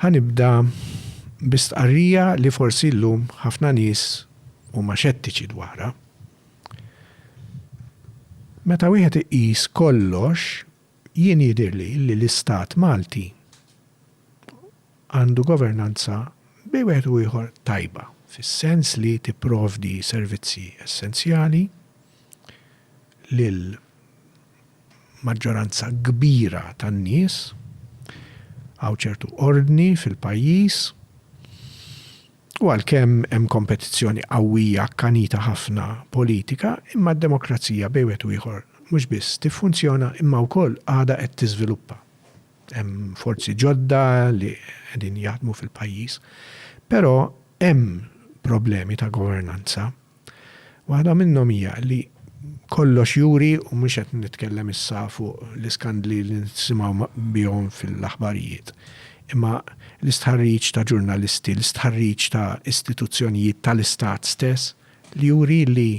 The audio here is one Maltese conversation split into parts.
Ħa nibda bi stqarrija li forsi llum ħafna nies huma xettiċi dwarha. Meta wieħed iqis kollox, jien jidhirli li l-Istat Malti għandu governanza bejn wieħed u ieħor tajba, fis-sens li tipprovdi servizzi essenzjali lil, maġġoranza kbira tan-nies, hawn ċertu ordni fil-pajjiż u għalkemm hemm kompetizzjoni qawwija akkanita ħafna politika imma d-demokrazija bejn wieħed u ieħor mhux biss tiffunzjona imma wkoll għadha qed tiżviluppa. Hemm forzi ġodda li qegħdin jaħdmu fil-pajjiż. Però hemm problemi ta' governanza. Waħda minnhom hija li kollox juri, u mhux qed nitkellem issa fuq l-iskandli li nisimgħu bihom fil-aħbarijiet, imma l-istħarriġ ta' ġurnalisti, l-istħarriġ ta' istituzzjonijiet tal-istat stess, li juri li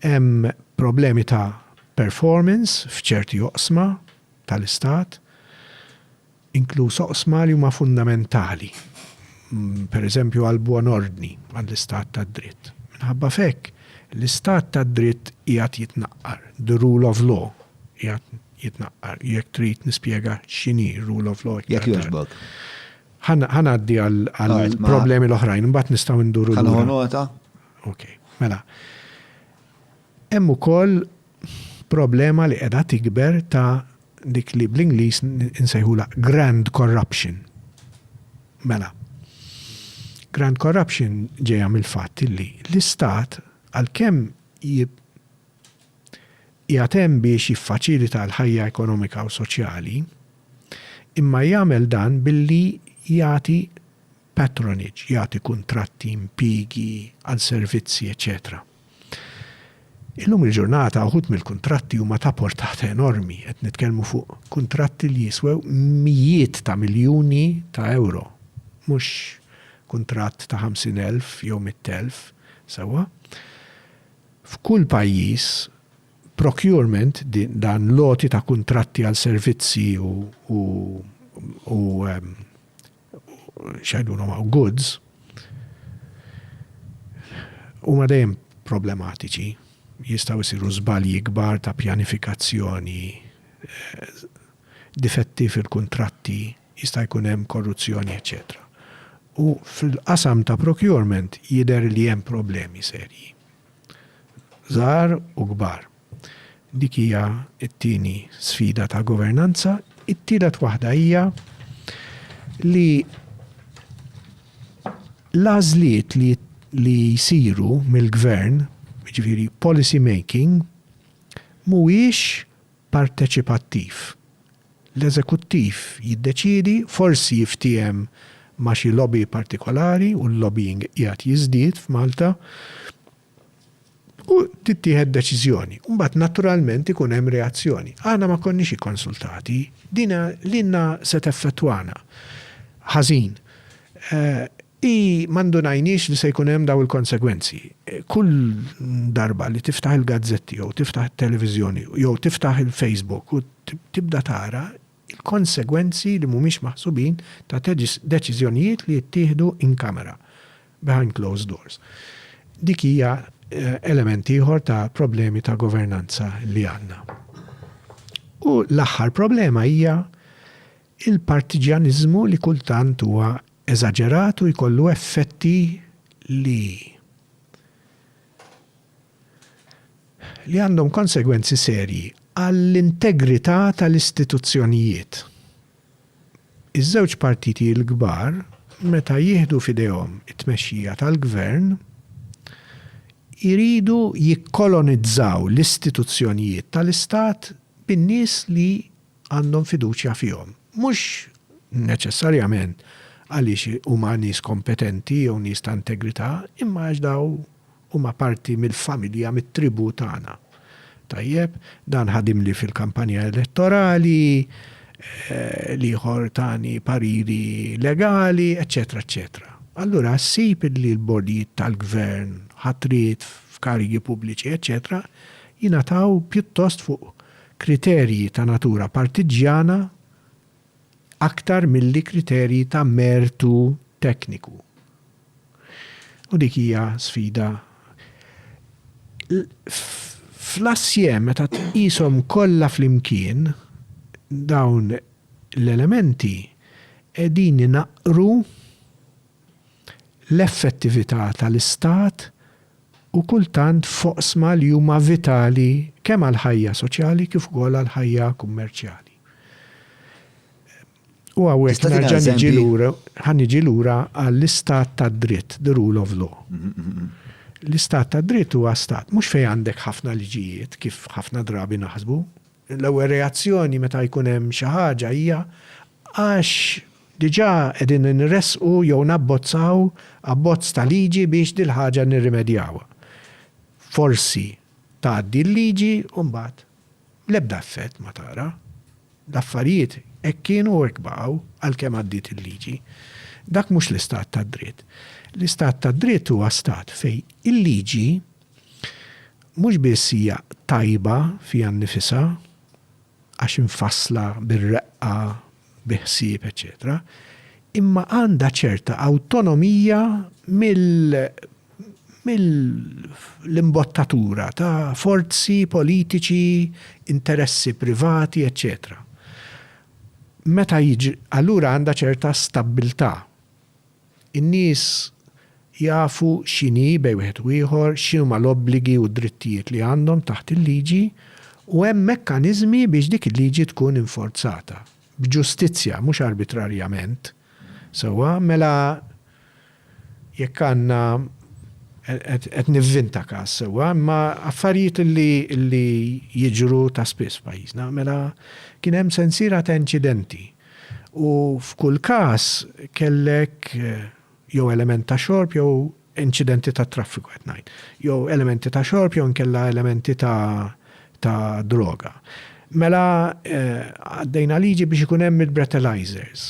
hemm problemi ta' performance f'ċerti oqsma tal-istat. inkluż oqsma li huma fundamentali, pereżempju għall-buon ordni, għall-istat tad-dritt. Minħabba f'hekk, l-istat tad-dritt qiegħed jitnaqqar, the rule of law qiegħed jitnaqqar. Jekk trid nispjega x'inhi r-rule of law iktar tard. Jekk jogħġbok. Ħa ngħaddi għall-problemi l-oħrajn, imbagħad nistgħu nduru lura. Ħa nieħu nota. Okej. Mela, hemm ukoll problema li qiegħda tikber ta' dik li bl-Ingliż insejħulha grand corruption. Mela, grand corruption ġejja mill-fatt li l-Istat għalkemm qiegħed hemm biex jiffaċilita l-ħajja ekonomika u soċjali, imma jagħmel dan billi jagħti patronage, jagħti kuntratti, impjiegi, għal servizzi, eċċetera Illum il-ġurnata uħud mill-kuntratti huma ta' portata enormi, qed nitkellmu fuq kuntratti li jiswew mijiet ta' miljuni ta' ewro, mhux kuntratt ta' 50,000 jew 100,000, sewwa? F'kull pajjiż, procurement, dan l-għoti ta' kuntratti għal servizzi u x'jgħidulhom hawn, goods, huma dejjem problematiċi, jistgħu jsiru żbalji kbar ta' pjanifikazzjoni, difetti fil-kuntratti, jista' jkun hemm korruzzjoni eċċetera. U fil-qasam ta' procurement jidher li hemm problemi serji, żgħar u kbar. Dik hija t-tieni sfida ta' governanza. It-tielet waħda hija li l-għażliet li li jsiru mill-gvern, jiġifieri policy making, mhuwiex parteċipattiv. L-eżekuttiv jiddeċiedi, forsi jiftiehem ma' xi lobby partikolari, u l-lobbying qiegħed jiżdied f'Malta, U tittieħed deċiżjoni. U mbagħad naturalment ikun hemm reazzjoni. Aħna ma konniex ikkonsultati. Din lilna se teffettwana ħażin. Hi ma ndunajniex li se jkun hemm dawn il-konsegwenzi. Kull darba li tiftaħ il-gazzetti jew tiftaħ it-televiżjoni jew tiftaħ il-Facebook u tibda tara il-konsegwenzi li mhumiex maħsubin ta' deċiżjonijiet li jittieħdu in camera, behind closed doors. Dik hija element ieħor ta' problemi ta' governanza li għandna. U l-aħħar problema hija l-partiġjaniżmu li kultant huwa eżaġerat u jkollu effetti li li għandhom konsegwenzi serji għall-integrità tal-istituzzjonijiet. Iż-żewġ partiti l-kbar, meta jieħdu f'idejhom it-tmexxija tal-gvern, iridu jikkolonizzaw l-istituzzjonijiet tal-istat bin-nies li għandhom fiduċja fihom, mhux neċessarjament għaliex huma nies kompetenti jew nies ta' integrità, imma għax dawn Huma parti mill-familja, mit-tribù tagħna. Tajjeb, dan ħadimli fil-kampanja elettorali, l-ieħor tani pariri legali, eċċetera eċċetera. Allura ssib illi l-bordjiet tal-gvern, ħatriet f'karigi pubbliċi, eċċetera jingħataw pjuttost fuq kriterji ta' natura partiġġjana, aktar milli kriterji ta' mertu tekniku. U dik hija sfida. Fl-assieme, meta tqishom kollha flimkien, dawn l-elementi qegħdin inaqqru, l-effettività tal-Istat u kultant f'oqsma li huma vitali kemm għall-ħajja soċjali kif ukoll għall-ħajja kummerċjali. U hawnhekk nerġa' niġi lura, ħa niġi lura għall-Istat tad-dritt, the rule of law. L-Istat tad-dritt huwa Stat mhux fejn għandek ħafna liġijiet kif ħafna drabi naħsbu, L-ewwel reazzjoni meta jkun hemm xi ħaġa hija għax diġà qegħdin inressqu jew nabbozzaw abbozz ta' liġi biex dil-ħaġa nirrimedjawha. Forsi tgħaddi l-liġi u mbagħad l-ebda effett ma tara. L-affarijiet hekk kienu u hekk baqgħu għalkemm għaddiet il-liġi. Dak mhux l-istat tad-dritt. L-istat tad-dritt huwa stat fejn il-liġi Mhux biss hija tajba fiha nnifisha, għax imfassla bir-reqqa, bi ħsieb, eċċetera, imma għandha ċerta awtonomija mill-imbottatura ta' forzi politiċi, interessi privati, eċċetera. Meta jiġri, allura għandha ċerta stabbiltà. In-nies jafu x'inhi bejn wieħed u ieħor, x'inhuma l-obbligi u d-drittijiet li għandhom taħt il-liġi u hemm mekkaniżmi biex dik il-liġi tkun inforzata, b'ġustizzja, mhux arbitrarjament. Sewwa, mela jekk għandna, qed nivvinta każ, sewwa, imma affarijiet li jiġru ta' spiss f'pajjiżna, mela kien hemm sensiela ta' inċidenti U f'kull każ kellek jew element ta' xorb jew inċidenti tat-traffiku qed ngħid, jew elementi ta' xorb jew inkella elementi ta' ta' droga. Mela għaddejna liġi biex ikun hemm il-breathalyzers.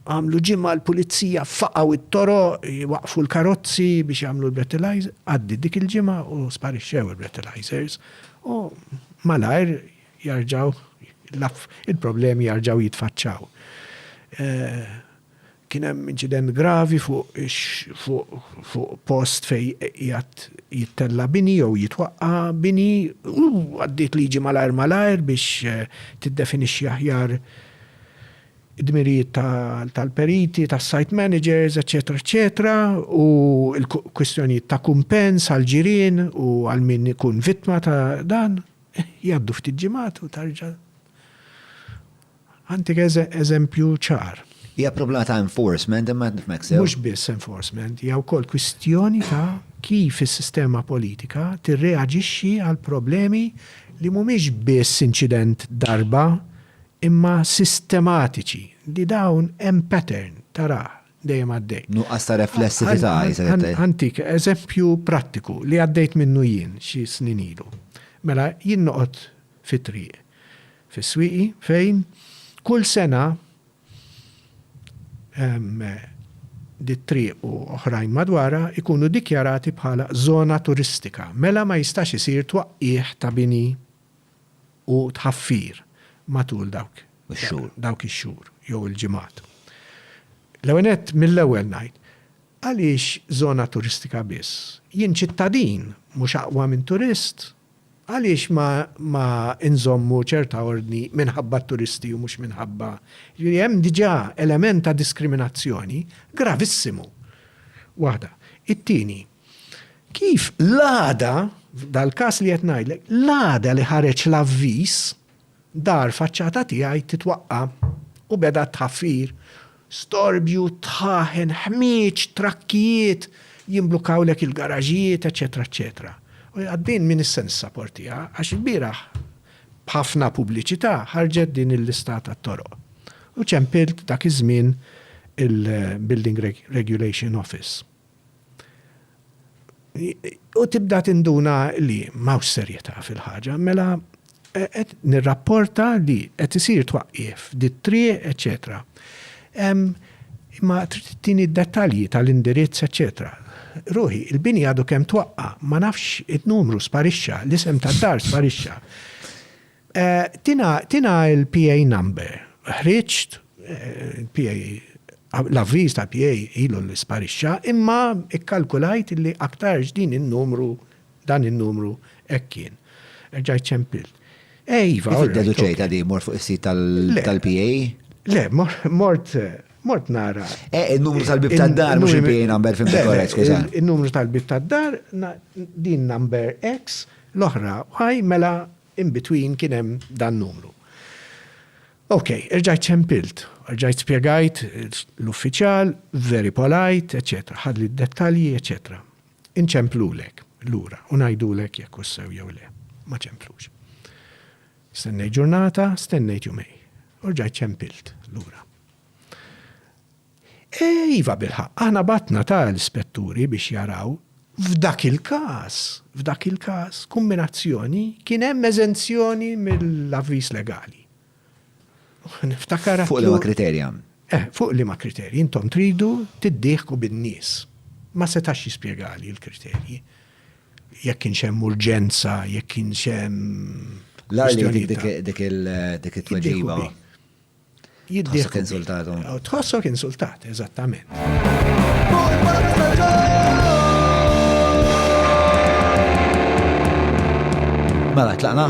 Għamlu ġimgħa l-pulizija faqgħu t-toroq, jwaqqfu l-karozzi biex jagħmlu l-breathalyzer, għaddiet dik il-ġimgħa u sparixxew il-breathalyzers u malajr Jarġgħu, l-aff, il-problemi jarġgħu jitfaċċaw. Kien hemm inċident gravi fuq ix, fuq, fuq post fejn qiegħed jittella' bini jew jitwaqqa' bini u għaddiet liġi malajr malajr biex tiddefinixxi aħjar id-dmirijiet ta', tal-periti, tas-site managers, eċċetera, eċċetera, u l-kwistjonijiet ta' kumpens għall-ġirien u għal min ikun vittma ta' dan. Jgħaddu ftit ġimgħat u tarġa' Għantik eżempju ċar. Hija problema ta' enforcement imma jekk nifhmek sew. Mhux biss enforcement, hija wkoll kwistjoni ta' kif is-sistema politika tirreaġixxi għal problemi li mhumiex biss inċident darba imma sistematiċi li dawn hemm pattern tarah dejjem għaddej. Nuqqas ta' reflessività jisir. Antik, eżempju prattiku li għaddejt minnu jien xi snin ilu. Mela jien noqgħod fit-triq fis-swieqi fejn kull sena dit-triq u oħrajn madwarha jkunu dikjarati bħala żona turistika. Mela ma jistax isir twaqqigħ ta' bini u tħaffir matul dawk ix-xhur jew il-ġimgħat. L-ewwel nett, mill-ewwel ngħid, għaliex żona turistika biss? Jien ċittadin mhux aqwa minn turist? Għaliex ma inżommu ċerta ordni minħabba t-turisti u mhux minħabba, jiġifieri hemm diġà element ta' diskriminazzjoni gravissimu. Waħda. It-tieni. Kif l-għada, dal-każ li qed ngħidlek, l-għada li ħareġ l-avviż, dar faċċata tiegħi titwaqqa' u beda t-tħaffir, storbju, tħaħen, ħmieġ, trakkijiet, jimblukkawlek il-garaġijiet, eċċetera eċċetera. U din m'iniex se nissaportiha għax ilbieraħ b'ħafna pubbliċità ħarġet din il-lista tat-toroq. U ċempilt dak iż-żmien il-Building Regulation Office. U tibda tinduna li m'hawnx serjetà fil-ħaġa, mela qed nirrapporta li qed isir twaqqif dit-triq, eċċetera. Imma trid tini d-dettalji tal-indirizz, eċċetera. Ruħi, il-bini għadu kemm twaqqa', ma nafx, in-numru sparixxa, l-isem tad-dar sparixxa. Tina l-PA number. Ħriġt il-PA, l-avviż tal-PA ilu li sparixxa, imma kkalkulajt li aktarx din in-numru, dan in-numru hekk kien. Erġajt ċempilt. Eh iva, alright. Kif iddeduċejtha din? Mort fuq is-sit tal-PA? Le, mort, mort nara. Eh, in-numru tal-bieb tad-dar mhux il-PA number fim dik korrett, skuża. In-numru tal-bieb tad-dar, din number X, l-oħra Y, mela In between kien hemm dan numru. Ok, erġajt ċempilt, erġajt spjegajt l-uffiċjal, very polite, eċċetera, ħadli d-dettalji, eċċetera. Inċemplulek lura u ngħidulek jekk hux sew jew le. Ma ċemplux. Stennejt ġurnata, stennejt jumejn. U rġajt ċempilt lura. Iva, bilħaqq, aħna bgħatna ta' l-ispetturi biex jaraw. F'dak il-każ, f'dak il-każ, kumminazzjoni, kien hemm eżenzjoni mill-avviż legali. Niftakar għad. Fuq liema kriterja? Eh, fuq liema kriterji? Intom tridu tiddieħku bin-nies. Ma setax jispjegali l-kriterji. Jekk kienx hemm urġenza, jekk kienx hemm. L-agħar li jtik dik il-tweġiba. Jiddieħ. Insultat. Tħossok insultat, eżattament. Mela, tlaqna?